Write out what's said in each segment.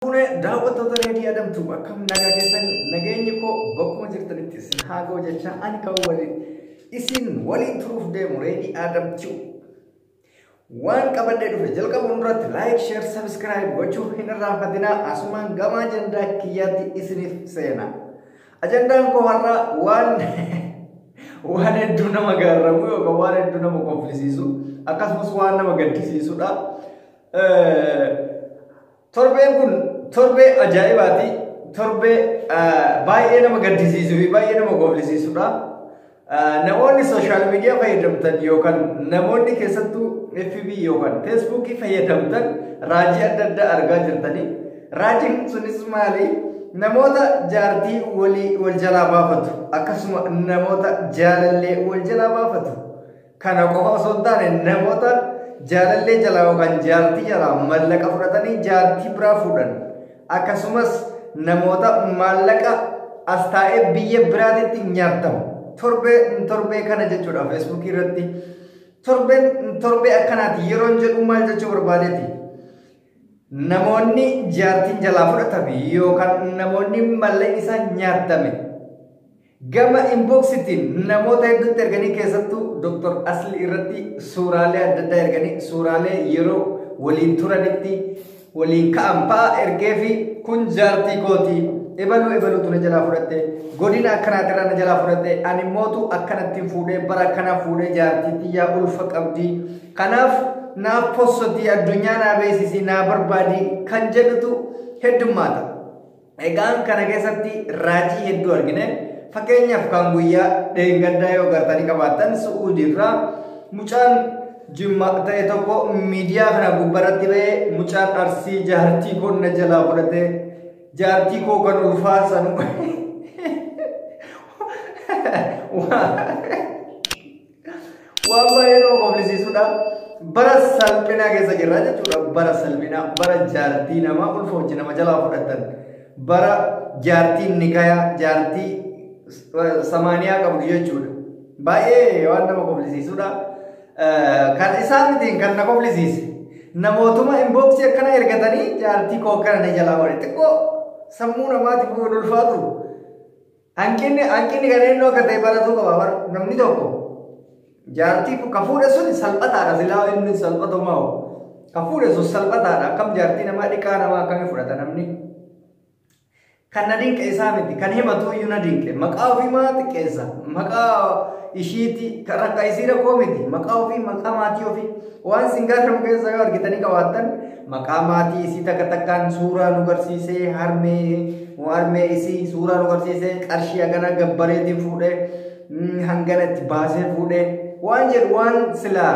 Fuune daawwattoota reedii adamtu akkam nagaa keessanii nageenyi koo bakkuma jirtanitti isin haa ga'u jechaa ani kan waliin isin waliin turuuf deemu reedii adamtu. Waan qabadhee dhufe jalqabuun duratti laayik sheer sabiskiraayib gochuu hin irraanfatinaa asumaan gama ajandaa kiyyaatti isiniif seena. Ajandaan koo har'aa waan waan hedduu nama gaarramu yookaan waan hedduu nama kolfisiisu akkasumas waan nama gaddisiisudha. Torbeen kun torbee ajaa'ibaati. Torbee baay'ee nama gaddisiisuu fi baay'ee nama gooflisiisudha. Namoonni sooshaal miidiyaa fayyadamtan yookaan namoonni keessattuu FB yookaan Feesbuukii fayyadamtan raajii adda addaa argaa jirtanii. Raajiin sunis maali? Namoota jaartii walii wal jalaa baafatu akkasuma namoota jaalallee wal jalaa baafatu. Kana qofa osoo hin taane namoota jaalallee jalaa yookaan jaartii jalaa mallaqa fudhatanii jaartii biraa fuudhan akkasumas namoota maallaqa as taa'ee biyya biraatitti nyaatamu torbee torbee kana jechuudha feesbuukii irratti torbeen torbee akkanaati yeroon jedhu maal jechuu barbaadeeti. Namoonni jaartiin jalaa fudhatame yookaan namoonni mallaqni isaa nyaatame Gama inbox tiin namoota hedduutti erganii keessattuu Dr. Asli irratti suuraalee adda addaa erganii suuraalee yeroo waliin turanitti waliin ka'an fa'a ergee fi kun jaartii kooti ebaluu ebaluutu na jalaa fudhatte godina akkanaatirraa na jalaa fudhatte ani mootu akkanattiin fuudhee bara akkanaa fuudhee jaartii tiyyaa ulfa qabdi kanaaf naaf possotii addunyaa naa beeksisii naa barbaadii kan jedhutu heddummaata. Egaan kana keessatti raajii hedduu argine fakkeenyaaf kan guyyaa dheengaddaa yoo gartanii qabaatan su'uudii irraa mucaan jimma ta'e tokko miidiyaa kana gubbarratti ba'ee mucaan arsii jaartii koo na jalaa fudhate jaartii koo kan ulfaa sanu Waan baay'ee nama koflisiisudha. Bara salphinaa keessa jirra jechuudha. Bara salphinaa, bara jaartii namaa ulfa hojii nama jalaa fudhatan. Bara jaartii nikayaa, jaartii samaaniyaa qabdu jechuudha. Baay'ee waan nama koflisiisudha. Kan isaan mitiin kan na koflisiise. Namootuma inboksii akkana ergatanii jaartii koo akkana na jalaa walitti xiqqoo sammuu namaatiif hin ulfaatu. Hanqinni hanqinni kan eenyu akka ta'e baratuu qaba bar namni tokko jaartii ka fuudhe sun salphataadha silaa inni salphatu moo ka fuudhe sun salphataadha akkam jaartii namaa dhiqaa namaa akkamii fudhata namni kan na dinqe isaa miti kan himatu iyyuu na dinqe maqaa ofii maa xiqqeessa maqaa ishiiti kan rakka isii rakkoo miti maqaa ofii maqaa maatii ofii waan sin gaafatamu keessa yoo argitanii qabaattan Maqaa maatii isii takka takkaan suuraa nu garsiisee harmee harmee isii suuraa nu garsiisee qarshii hagana gabbareetiin fuudhee mm, hangana itti baasee fuudhee waan jedhu waan silaa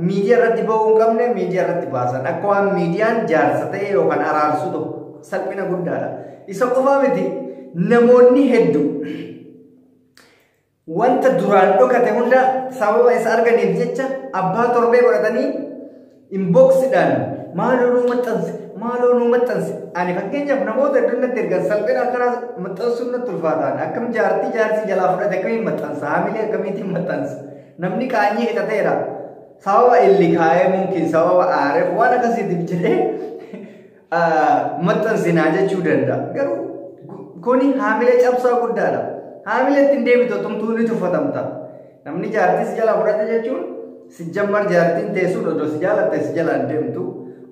miidiyaa irratti ba'uu hin qabne miidiyaa irratti baasan akka waan miidiyaan jaarsa ta'e yookaan araarsu tokko salphina guddaadha. Isa qofaa miti namoonni hedduu Wanta duraan dhokate hunda sababa isa arganiif jecha abbaa torbee godhatanii inboxidhaan maaloo nuu maxxansi maaloo nuu maxxansi ani fakkeenyaaf namoota hedduun natti ergan salphina akkanaa maxxansuun natti ulfaataan akkam jaartii jaarsi jalaa fudhate akkamiin maxxansa haamilee akkamiitiin maxxansa namni qaanyii hidhateera sababa illi kaa'ee mumkin sababa aareef waan akkasiitiif jedhee maxxansinaa jechuu danda'a. Garuu kuni haamilee cabsaa guddaadha. Haamilee ittiin deebitu tumtuu ni tuffatamta. Namni jaartii si jalaa fudhate jechuun si jammar jaartiin teessuun odoo si jaalatte si jalaa hin deemtu.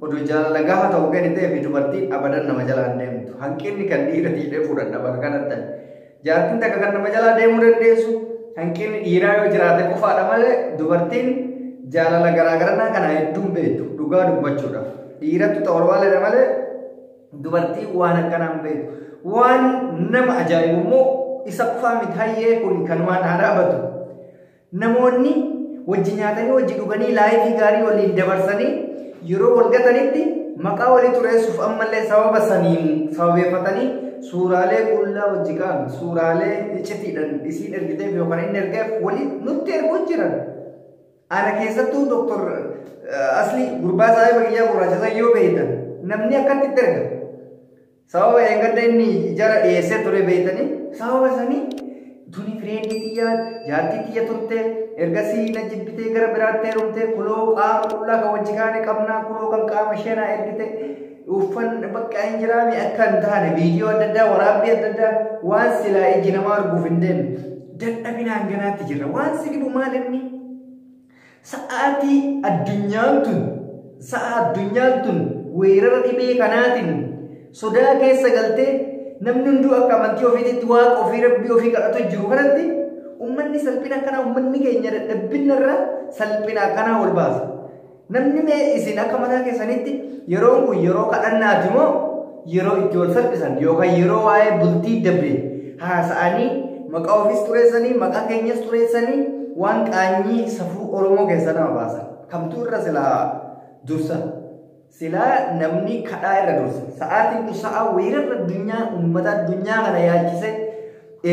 Odoo jaalala gaha ta'u gadi ta'ee fi dubartiin abadan nama jalaa hin deemtu. Hanqinni kan dhiirati jedhee fudhadha bakka kanatti. Jaartiin takka kan nama jalaa deemuu dandeessu hanqinni dhiiraa yoo jiraate qofaadha malee dubartiin jaalala garaagarannaa kana hedduun beektu dhugaa dubbachuudhaaf. Dhiirattu ta'u walwaaleedha malee dubartii waan akkanaan beektu. Waan nama ajaa'ibu immoo isa qofaa miti hayyee kun kan waan haa dhaabatu. Namoonni wajji nyaatanii wajji dhuganii laayifii gaarii waliin dabarsanii yeroo wal gatanitti maqaa walii xureessuuf ammallee sababa saniin sababeeffatanii suuraalee qullaa wajji ka'an suuraalee icitiidhaan isiin ergiteef yookaan inni ergeef walii nutti erguu jiran. Ana keessattuu doktor asli gurbaa saahiba kiyyaa gurraacha san yoo beeytan namni akkatti itti erga. Sababa dheengadda inni ijara dhiyeessee ture beektanii sababa sanii tuni fireendii tiyya jaartii tiyya turte ergasii na jibbitee gara biraatti heerumte kuloo qaama qullaa kan wajji kaane qabnaa kuloo kan qaama ishee naa ergite uffan bakka hin jiraame akka hin taane viidiyoo adda addaa waraabbii adda addaa waan silaa iji namaa arguuf hin deemne dadhabinaan ganaatti jirra waan si dhibu maal inni Sa'aatii addunyaan tun sa'a addunyaan tun weerara dhibee kanaatiin sodaa keessa galtee namni hunduu akka amantii ofiititti waaqa ofii rabbii ofii kadhatu jiru kanatti ummanni salphina akkanaa ummanni keenya dadhabbinna irra salphina akkanaa wal baasa. Namni mee isin akka mataa keessanitti yeroon kun yeroo kadhannaati moo yeroo itti wal salphisan yookaan yeroo waa'ee bultii dabre haasa'anii maqaa ofiis xureessanii maqaa keenyas xureessanii waan qaanyii safuu Oromoo keessaa nama baasan. Kamtuu irra silaa dursa. Silaa namni kadhaa irra dursa. Sa'aatiin kun sa'aa weerarra addunyaa uummata addunyaa kana yaalchisee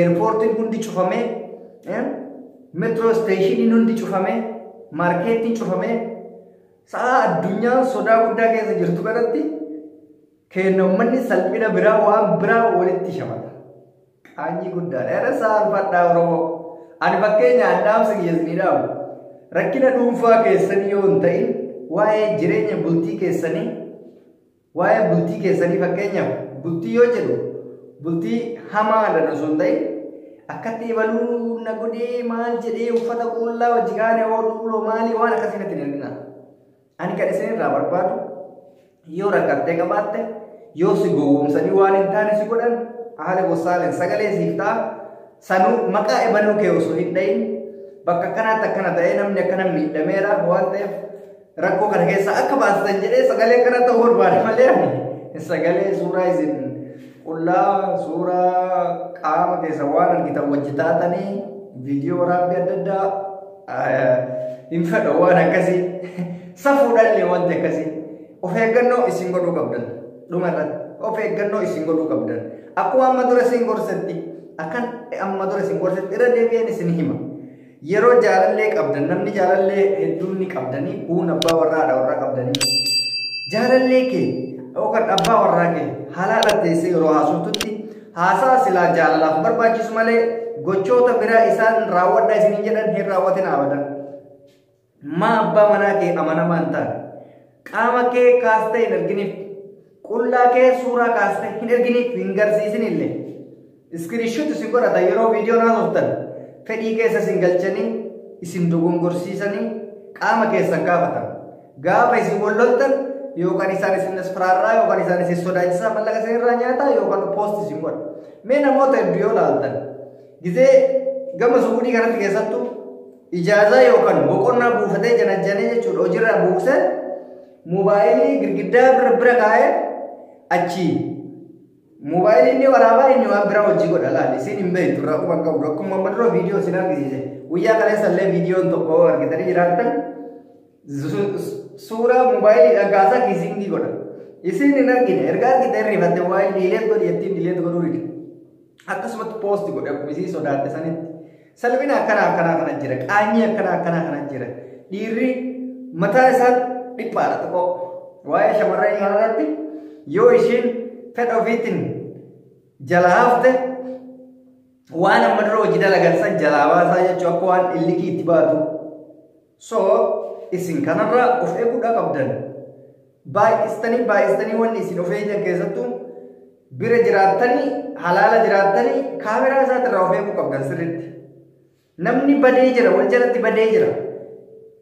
eerpoortiin hundi cufamee metroo isteeshiniin hundi cufamee maarkeetiin cufamee Sa'a addunyaan sodaa guddaa keessa jirtu kanatti keenna ummanni salphina biraa waan biraa walitti shamata. Qaanyii guddaadha. Irra saalfadhaa Oromoo. Ani fakkeenyaan dhaamsa kiyya isinii dhaamu. Rakkina dhuunfaa keessanii yoo hin ta'in waa'ee jireenya bultii keessanii Waa'ee bultii keessanii fakkeenyaaf bultii yoo jedhu bultii hamaa irra osoo hin ta'in akkatti ibaluu na godhee maal jedhee uffata qullaa wajji kaane oo duuloo maalii waan akkasii natti hin erginaa. Ani kan isin irraa barbaadu yoo rakkattee qabaatte yoo si gowwoomsanii waan hin taane si godhan haala gosaalen sagalee siif ta'a sanuu maqaa ibaluu kee osoo hin dhayin bakka akkanaatti akkana ta'ee namni akkana miidhameera waan ta'eef rakkoo kana keessaa akka baasitan jedhee sagalee kana ta'uu barbaade malee ani sagalee suuraa isin qullaa suuraa qaama keessa waan argitan wajji taatanii viidiyoo waraabbii adda addaa eh, hin fedhu waan akkasii safuudhaallee wanti akkasii of eeggannoo isin godhuu qabdan dhuma irratti of eeggannoo isin godhuu qabdan akkuma amma dura isin gorsetti akkan amma dura isin gorsetti irra deebi'een isin hima. Yeroo jaalallee qabdan namni jaalallee hedduun ni qabdanii kuun abbaa warraa haadha warraa qabdanii jaalallee kee yookaan abbaa warraa kee halaala teessee yeroo haasoftutti haasaa silaa jaalalaaf barbaachisu malee gochoota biraa isaan raawwadha isiniin jedhan hin raawwatin abadan. Maa abbaa manaa kee amanamaa hin taane? Qaama kee kaastee hin erginiif. Qullaa kee suuraa kaastee hin erginiif hin garsiisinillee. Iskiriishuuti si godhata yeroo viidiyoon haasoftan fedhii keessa isin galchanii isin dogongorsiisanii qaama keessan gaafatan. Gaafa isin wal loltan yookaan isaan isin asfaraarraa yookaan isaan isin sodaachisaa mallaqa isin irraa nyaataa yookaan poosti isin godha. Mee namoota hedduu yoo laaltan gizee gama suudii kanatti keessattuu ijaazaa yookaan boqonnaa buufatee janajjanee jechuudha hojiirraa buuse moobaayilii girgiddaa bira bira kaa'ee achi moobaayilii inni waraabaa inni waan biraa hojii godha laal isin hin beektu irraa quba hin qabdu akkuma amma dura viidiyoo isin argisiise guyyaa kaleessa illee viidiyoon tokko argitanii jiraattan suuraa moobaayiliidhaan kaasaa kiisiingii godha isin hin argine erga argite hirrifatte waa'ee diileet godhi jettiin diileet godhuu dide akkasumatti poosti godhe akkuma isii sodaatte sanitti Salphina akkanaa akkanaa kana jira. Qaanyii akkanaa akkanaa kana jira. Dhiirri mataa isaa dhiphaadha xiqqoo. Waa'ee shamarranii kanarratti yoo ishiin fedha ofiitiin jalaa hafte waan amma dura hojii dalagan san jalaa baasaa jechuun akka waan illikii itti baatu So isin kanarraa of eeguudhaa qabdan. Baay'istanii baay'istanii wanni isin of eegdan keessattuu bira jiraattanii halaala jiraattanii kaameraa isaatirraa of eeguu qabdan sirriitti. Namni badee jira wal jalatti badee jira.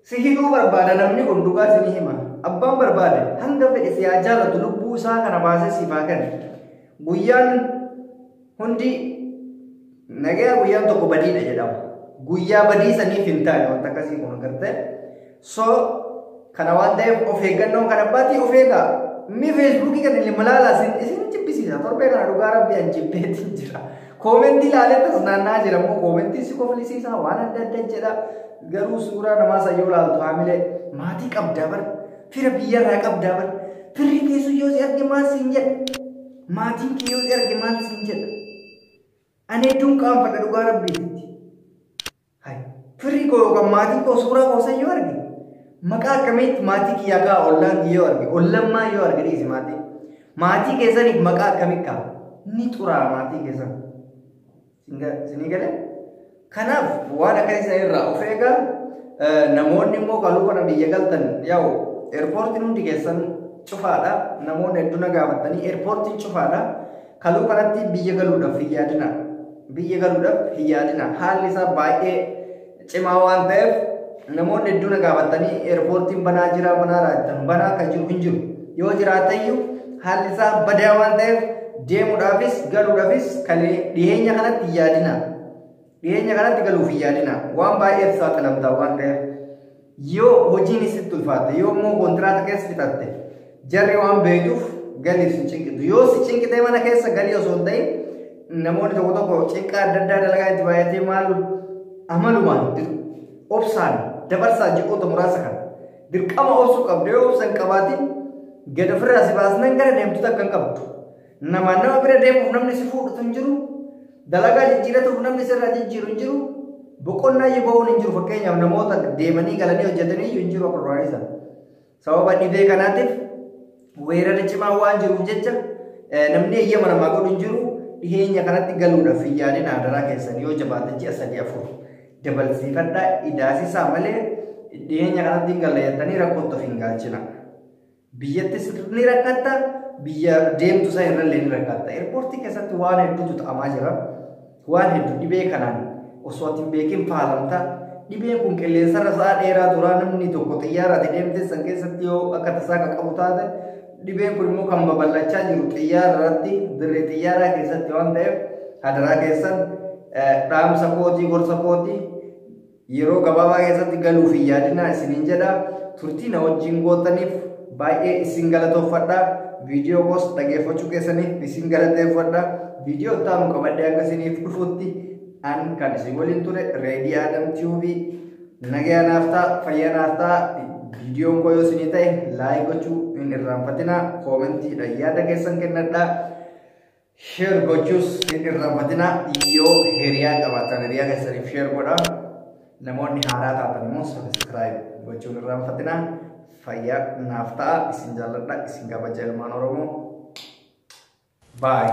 Si hidhuu barbaada namni kun dhugaa isinii hima. Abbaan barbaade hanga fedhe si haa jaalatu lubbuu isaa kana baasee siif haa kennu. Guyyaan Hundi nagaya guyyaan tokko badiidha jedhama. Guyyaa badii saniif hin taane wanta akkasii kun agartee. So kana waan ta'eef of eeggannoon kan abbaatii of eegaa. Inni feesbuukii kan ilma laalaa isin isin jibbisiisa. Torbee kana dhugaa rabbi an jibbeetiin jira. Koomentii ilaalee tas naannaa jira immoo koomentii si koflisiisa waan adda adda jedha. Garuu suuraa namaa sayyoo laaltu haamilee maatii qabdaa bara. Fira biyyarraa qabdaa bara. Firri keessu yoo si arge maal siin jedha. Maatiin kee yoo si arge maal siin jedha? Ani hedduun qaanfadha dhugaa rabbiititti. Hay, firri koo yookaan maatiin koo suuraa koo san yoo arge, maqaa akkamiitti maatii kiyyaa kaa ollaan yoo arge, ollaan maa yoo arge dhiisi maatii. Maatii keessaniif maqaa akkamii kaa? Ni xuraa maatii keessan. Isinii galee? Kanaaf waan akkasii sana irraa of eegaa namoonni immoo galuu kana biyya galtan yaa'u eerpoortiin hundi keessan cufaadha. Namoonni hedduu na gaafatanii eerpoortiin cufaadha. Kaluu kanatti biyya galuudhaaf hin yaadina. Biyya galuudhaaf hin yaadina. Haalli isaa baay'ee cimaa waan ta'eef namoonni hedduu na gaafatanii eerpoortiin banaa jira banaa raajatan banaa akka jiru hin jiru yoo jiraateyyuu haalli isaa badaa waan ta'eef deemuudhaafis galuudhaafis kalee dhiyeenya kanatti hin yaadina dhiyeenya kanatti galuuf hin yaadina waan baay'eef saaxilamtaa waan ta'eef Yoo hojiin sitti ulfaatte yoo immoo kontiraata keessa fixatte jarri waan beektuuf galiif si cinqitu. Yoo si cinqitee mana keessa galii osoo hin ta'in namoonni tokko tokko cinqaa adda addaa dalagaa itti baay'atee maal amalumaan obsaan dabarsaa ji'oota muraasa kana dirqama obsuu qabdu yoo obsan qabaatiin gad ofirraa si baasnan gara deemtuta akka hin qabdu. Namaan nama bira deemuuf namni si fuudhutu hin jiru. Dalagaa jijjiiratuuf namni sirraa jijjiiru hin jiru. Boqonnaa iyyuu ba'uun hin jiru fakkeenyaaf namoota deemanii galanii hojjetanii iyyuu hin jiru abrooraniisa. Sababa dhibee kanaatiif weerarri cimaa waan jiruuf jecha namni eeyyama namaa godhu hin jiru. Dhiheenya kanatti galuudhaaf hin yaadin adaraa keessan yoo jabaate ji'a sadii afur dabalsiifadhaa idaasisaa malee dhiheenya kanatti hin galla jettanii rakkootti of hin galchina. Biyyattis ni rakkatta, biyya deemtu san irrallee ni rakkatta. Eerpoortii keessatti waan hedduutu ta'amaa jira. Waan hedduu dhibee kanaan osoo ati hin beekin faalamta. Dhibeen kun qilleensarra sa'a dheeraa turaa namni tokko xiyyaara ati deemte san keessatti yoo akka tasaa kan qabu taate dhibeen kun immoo kan babal'achaa jiru xiyyaara irratti dirree xiyyaaraa keessatti waan ta'eef hadaraa keessan dhaamsa kootii gorsa kootii Yeroo gabaabaa keessatti galuuf hin yaadinaa isiniin jedha. Turtii na wajjin gootaniif baay'ee isin galatoofadha. Viidiyoo koos dhageeffachuu keessaniif isin galateeffadha. Viidiyoo itti aanu qabadhee hanga isiniif dhufutti an kan isin waliin ture Reedii Adam Tiyuubii nagaya naaf ta'a fayyaa naaf ta'a viidiyoon koo yoo isinii ta'e laayik gochuu hin irraanfatinaa koomentiidhaan yaada keessan kennadhaa. Share gochuus hin irraanfatina yoo hiriyaa qabaatan hiriyaa keessaniif share godha. Namoonni haaraa taatan immoo subscribe gochuun hin irraanfatina. Fayyaa naaf ta'a isin jaalladha isin kabaja ilmaan Oromoo. Bye.